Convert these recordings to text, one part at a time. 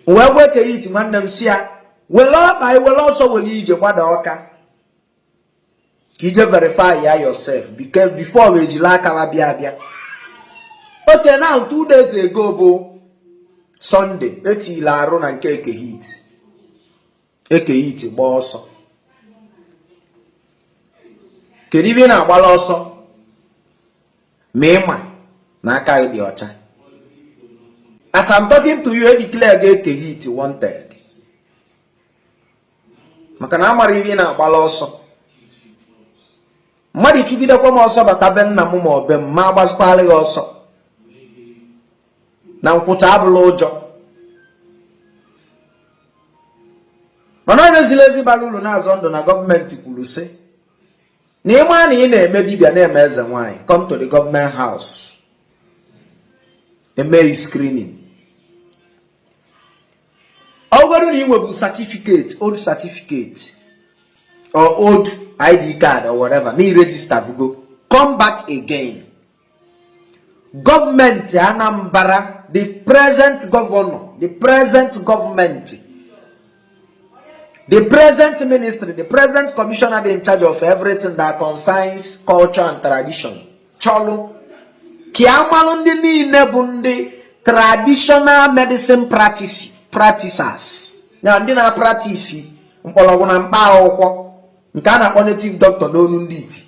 m wee gwa Eke Hit nwanne m sị ya were ọkpa ị were ọsọ were ije gbada Ọka ka ije verify ya yourself before we ejila aka ba bịa abịa okay now two days ago bụ Sunday etila arụ na nke Eke Hit Eke Hit gbaa ọsọ kedu ibe ị na-agbala ọsọ ma ịma na aka gị dị ọcha as I'm talking to you edeclarego Eke Hit wanted maka na amara ibe ị na-agbala ọsọ mmadụ chụgidekwa m ọsọ bata be nna m ma ọ be m ma agbazikwala gị ọsọ na nkwụcha abụla ụjọ mana onye ziri ezi bara ụlọ na-azọ ndụ na gọọmenti kwuru sị na ịma na ị na-eme dibịa na-eme eze nwaanyị come to the government house eme gị screening ọ bụrụ na ị nwebu certificate old certificate or old ID card or whatever na i register vugo come back again gọọmenti Anambra the present governor the present gọọmenti the present ministry the present commissioner dị in charge of everything that concerns culture and tradition chọlụ ka ya malụ ndị niile bụ ndị traditional medicine practices ya ndị na-apractice mkpọrọgwụ na mkpa akwụkwọ nke a na-akpọ native doctor n'ọnụ ndị iti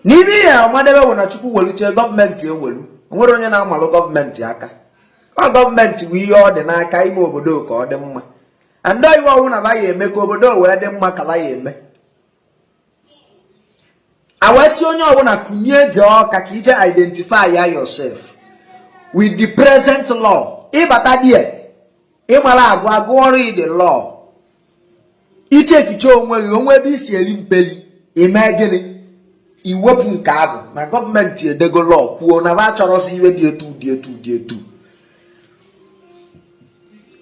na iwe ị ya-amadebe wụ na Chukwu weluchee gọọmenti ewelu o nwere onye na-amalụ gọọmenti aka ọ gọọmenti bụ ihe ọ dị n'aka ime obodo ka ọ dị mma and iwe ọwụna ba ya-eme ka obodo wee dị mma ka ba ya-eme a wee sị onye ọwụna kunie jee Ọka ka ije identify ya yourself with the present law ị bata there ịmara agụ agụọrụ ị the law ichekichee onwe gị o nwe ebe i si eri mperi ime gịnị iwepụ nke ahụ na gọọmenti edego law kwuo na ba achọrọzi iwe dị etu dị etu dị etu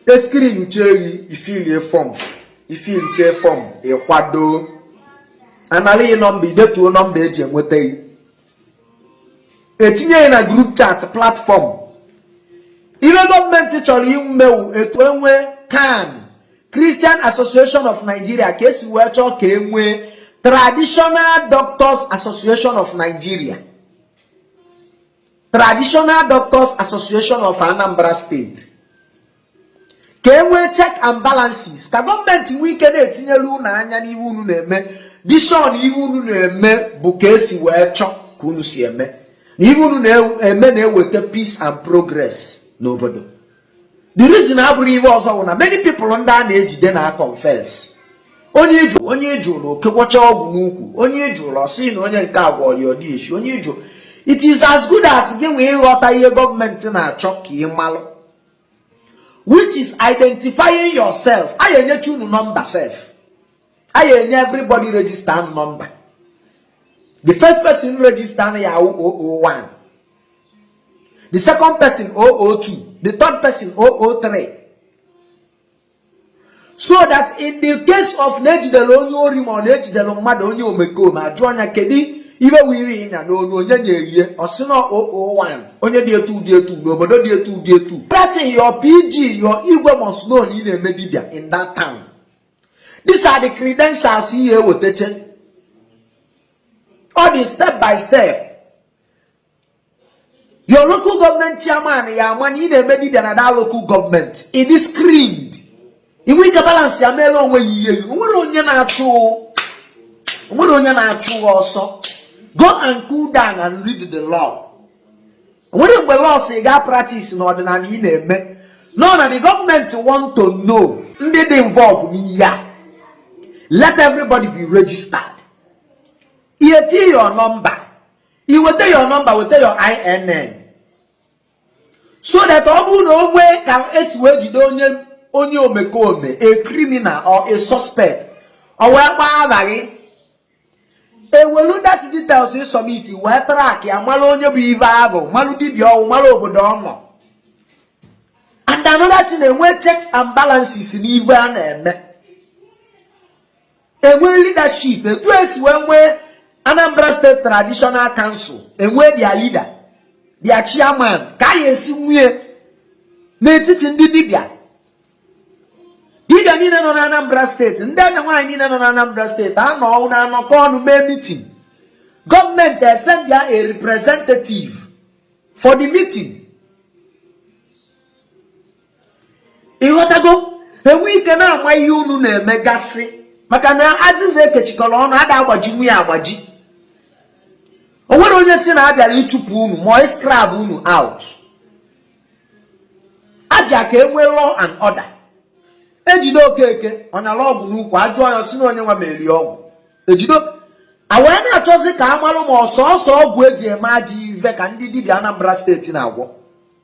e screenchee gị ifilie fọm ifilichee fọm ịkwado anali gị nọmba idetuo nọmba eji enweta gị etinye gị na group chat platform iwe gọọmenti chọrọ ime wụ etu enwe CAN Christian Association of Nigeria ka esi wee chọọ ka enwee Traditional Doctors Association of Nigeria Traditional Doctors Association of Anambra State ka e nwee check and balances ka gọọmenti nwee ike na-etinyere unu anya n'ihe unu na-eme dị sure na ihe unu na-eme bụ ka esi wee chọọ ka unu si eme na ihe unu na-eme na-eweta peace and progress n'obodo the reason abụrọ ihe ọzọ bụ na many people ndị a na-ejide na confess onye iju onye iju na o kekwacha ọgwụ n'ukwu onye ị jụọ na ọ sị na onye nke a gwọrọ ya odeshi onye ị jụọ it is as good as gị nwa ịghọta ihe gọọmenti na-achọ ka ị malụ which is identifying yourself anyị enyecha unu nọmba sef anyị enye everybody register nọmba the first person register ya awụ 001 the second person 002 the third person 003 so that in the case of na ejidere onye ori ma ọ na ejidere mmadụ onye omekome ajụọ nya kedu ibe i wiri ịnya na onu onye nyere ị ya ọ sị na 001 onye dị etu dị etu n'obodo dị etu dị etu that your pg your igwe must know na ị na-eme dibia in that town these are the credentials ihe ewetache ọ dị step by step your local government chairman ya ama na ị na-eme dibia na that local government ị dị screened i nwee ike balansịa meere onwe ị ihe o nwerọ onye na-achụ ọsọ go and cool down and read the law o nwerọ mgbe law sị gị apratisịna ọdịnala ị na-eme no na the government want to know ndị dị involve n'ihe a let everybody be registered i weta your number i weta your number weta your INN so that ọ bụrụ na o nwee ka esi wee jide onye omekome a criminal or a suspect ọ wee gbaa aha gị ewelu that details ị submit wee trakịa mara onye bụ ive ahụ malụ dibia ọ wụ mara obodo ọ nọ and another thing enwe checks and balances n'ive a na-eme enwee leadership etu esi wee nwee Anambra State Traditional Council enwee their leader their chairman ka anyị esi nwee n'etiti ndị dibịa dibịa niile nọ na Anambra steeti ndị eze nwaanyị niile nọ na Anambra steeti a nọ na-anọkọ ọnụ mee mitin gọọmenti esendịa a representative for the meeting ịghọtago enwe ike na-ama ihe unu na-emegasị maka na azịza ekechikọrọ ọnụ a da-agbajinwu ya agbaji o nwerọ onye si na abịara ịchụpụ unu ma ịscrap unu out abịa ka e nwee law and order ejide Okeke ọ nyala ọgwụ n'ukwu ajụọ ya si na onye nwa meere ya ọgwụ ejido awee na-achọzi ka a marụ ma ọ sọsọ ọgwụ eji eme ajọ ive ka ndị dibịa Anambra steeti na-agwọ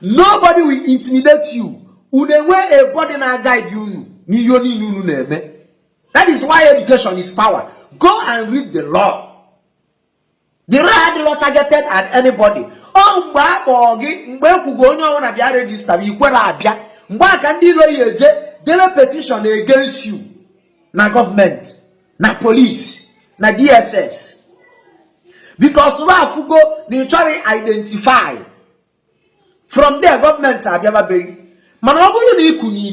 nobody will intimidate you unu enwe a body na-aguide unu n'ihe niile unu na-eme that is why education is power go and read the law the law adịrọ targeted at anybody ọ mgbe a kpọọ gị mgbe e kwugo onye ọbụla bịa rejista bụ i kwere abịa mgbe a ka ndị ilo ya eje dele petition against you na gọọmenti na polisi na dss because wa afụgo na ị chọrọ identify from there gọọmenti abịababe gị mana ọ bụrụ na i kunie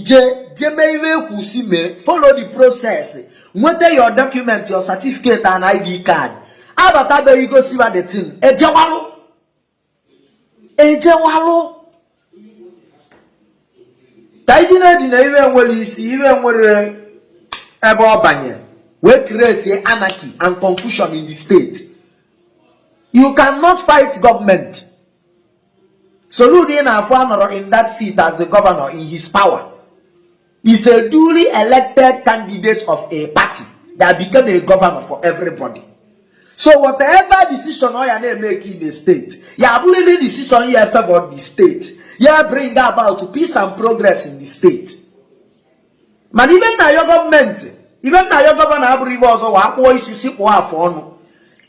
jee mee ihe e kwu sị mee follow the process nweta your document your certificate and id card a batabe i gosi wa the thing ejewalụ ejewalụ ka iji na-eji na ihe nwere isi ihe nwere ebe ọ banye wee create anarchy and confusion in the state you cannot fight government Soludo ị na-afụ anọrọ in that seat as the governor in his power is a duly elected candidate of a party that became a governor for everybody. So whatever decision ọ ya na-emake in a state, ya abụrịrị decision ya efavor the state, ya bring about peace and progress in the state. Mana ihe m na-ayọ gọọmenti, ihe m na-ayọ gọvanọ abụrọ ihe ọzọ wa akpụọ isi si kpụọ afọ ọnụ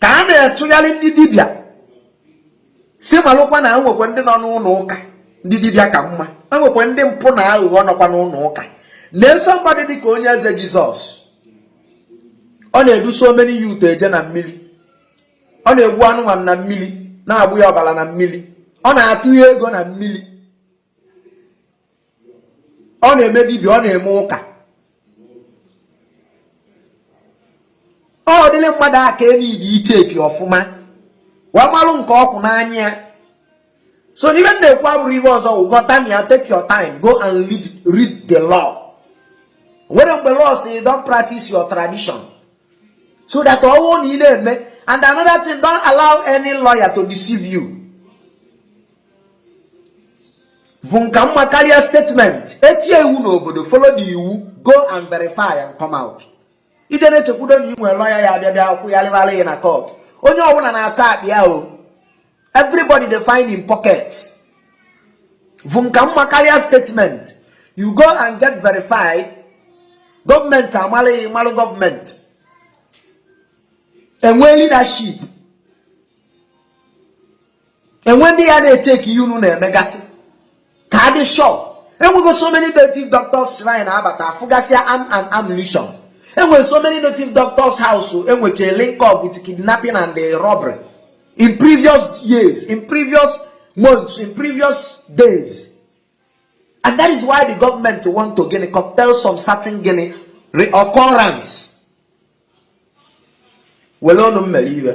ka a na-achụgharị ndị dibịa sị malụkwa na enwekwa ndị nọ n'ụlọ ụka ndị dibịa ka mma enwekwa ndị mpụ na aghụghọ nọkwa n'ụlọ ụka na-eso mmadụ dị ka onye eze Jesus ọ na-edu so many youth eje na mmiri ọ na-egbu anụmanụ na mmiri na-agbụ ya ọbara na mmiri ọ na-atụ ya ego na mmiri ọ na-eme dibịa ọ na-eme ụka ọ dịrị mmadụ aka e need icheck ọfụma wee malụ nke ọ kwụ n'anya ya so ihe m na-ekwu abụrọ ihe ọzọ ghọta m ya take your time go and read, read the law nwere mgbe law sị don't practice your tradition so that ọwụ na ị na-eme and another thing don't allow any lawyer to deceive you vuum ka mma karịa statement e tie iwu n'obodo follow the iwu go and verify and come out i je na-echekwudo na ị nwere lọya ya abịa bịa akwụ ya rịbara ya na kọt onye ọbụla na-achọ akpa ya o everybody dey find im pocket vuum ka mma karịa statement you go and get verified gọọmenti amalụ gị ị malụ gọọmenti e nwee leadership enwe ndị ya na-echeck ihe unu na-emegasị ka a dị sure enwego so many native doctors shrine abata afụgasịa arm and ammunition enwere so many native doctors house enweche link up with kidnapping and the robbery in previous years in previous months in previous days and that is why the government want to gịnị curtail some certain gịnị reoccurrence were ọnụ mmere iwe